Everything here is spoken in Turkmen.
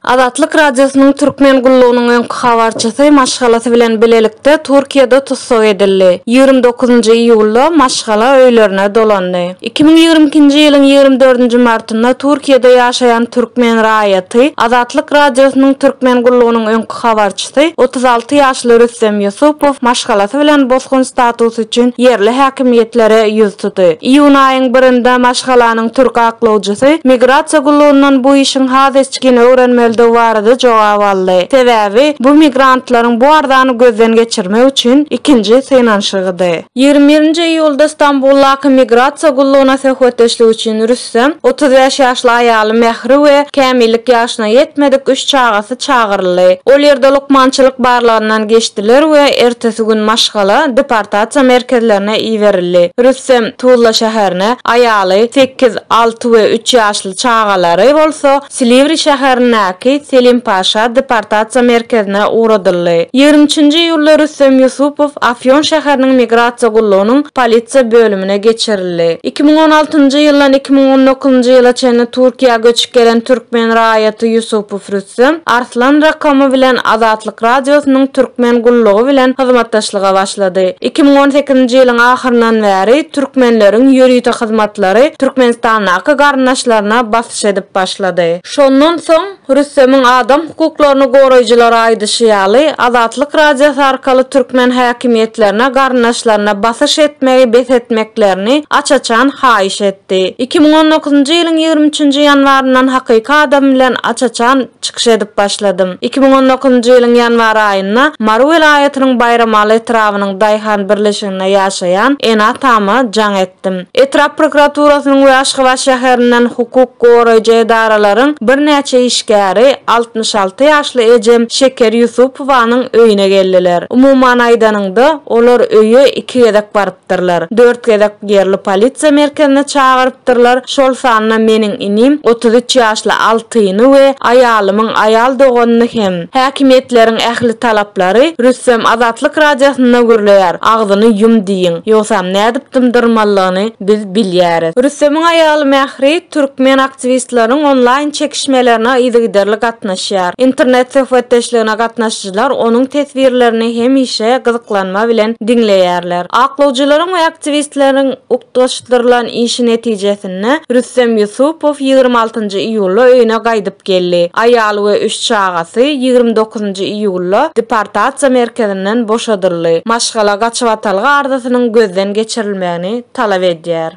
Azatlyk Radiosynyň Türkmen gullugynyň öňki habarçysy maşgalasy bilen bilelikde Türkiýede tussag edildi. Ýigrimi dokuzynjy iýulda maşgala öýlerine dolandy. Iki müň ýigrimi ikinji ýylyň ýigrimi dördünji martynda Türkiýede ýaşaýan türkmen raýaty Azatlyk Radiosynyň Türkmen gullugynyň öňki Habarçysy, otuz alty ýaşly Rüstem Ýusupow maşgalasy bilen bosgun statusy üçin ýerli häkimiýetlere ýüz tuty. Iýun aýyň birinde maşgalanyň türk aklawjysy migrasiýa gullugyndan bu işiň has içgin öwrenmelidigi barada jogap aldy. Sebäbi, bu migrantlaryň bu arzany gözden geçirmek üçin ikinji synanyşygydy. Ýigrimi birinji iýulda Stambuldaky migrasiýa gullugyna söhbetdeşlik üçin Rüs. Rüstem, otuz bäş ýaşly aýaly Mähri we kämillik ýaşyna ýetmedik üç çagasy çagyryldy. Ol ýerde lukmançylyk barlagyndan geçdiler we ertesi gün maşgala deportasiýa merkezlerine iberildi. Rüstem, Tuzla şäherine, aýaly, sekiz, alty we üç ýaşly çagalary bolsa, Silivri şäherindäki Selim-Paşa deportasiýa merkezine ugradyldy. Ýigrimi üçünji iýulda Rüstem Ýusupow Afýon şäheriniň migrasiýa gullugynyň polisiýa bölümine geçirildi. Iki müň on altynjy ýyldan iki müň on dokuzynjy ýyla çenli Türkiýä göçüp gelen türkmen raýaty Ýusupow Rüstem Arslan Rakomy bilen Azatlyk Radiosynyň türkmen gullugy bilen hyzmatdaşlyga başlady. Iki müň on sekizinji ýylyň ahyryndan bäri türkmenleriň ýörite hyzmatlary Türkmenistandaky garyndaşlaryna takyk edip başlady. Şondan soň, Rüstemiň adam hukuklaryny goraýjylara aýdyşy ýaly, Azatlyk Radiosy arkaly türkmen häkimiýetlerine garyndaşlaryna basyş etmegi bes etmeklerini aç-açan haýyş etdi. Iki müň on dokuzynjy ýylyň ýigrimi üçünji ýanwaryndan hakyky adym bilen aç-açan çykyş edip başladym. Iki müň on dokuzynjy ýylyň ýanwar aýynda Mary welaýatynyň Baýramaly etrabynyň daýhan birleşiginde ýaşaýan ene-atama jaň etdim. aýtdym. Etrap prokuraturasynyň we Aşgabat şäherinden hukuk goraýjy edaralaryň birnäçe işgäri altmyş alty ýaşly ejem Şeker Ýusupowanyň öýüne geldiler. Umuman aýdanyňda, olar öýe iki gezek barypdyrlar. Dört gezek ýerli polisiýa merkezine çagyrypdyrlar, şol sanda meniň inim, otuz üç ýaşly Altyny we aýalymyň aýal doganyny hem. Häkimiýetleriň ähli talaplary Rüstem Azatlyk Radiosynda gürleýär, agzyny ýum diýiň, ýogsam nädip dymdyrmalyny biz bilýäris. Rüstemiň aýaly Mähri türkmen aktiwistleriň onlaýn çekişmelerine yzygiderli gatnaşýar. Internet söhbetdeşligine gatnaşyjylar onuň teswirlerini hemişe gyzyklanma bilen diňleýärler. Aklawjylaryň we aktiwistleriň utgaşdyrylan işi netijesinde Rüstem Ýusupow ýigrimi altynjy iýulda öýüne gaýdyp gaýdyp geldi. Aýaly we üç çagasy ýigrimi dokuzynjy iýulda deportasiýa merkezinden boşadyldy. Maşgala gaçybatalga arzasynyň gözden geçirilmegini talap edýär.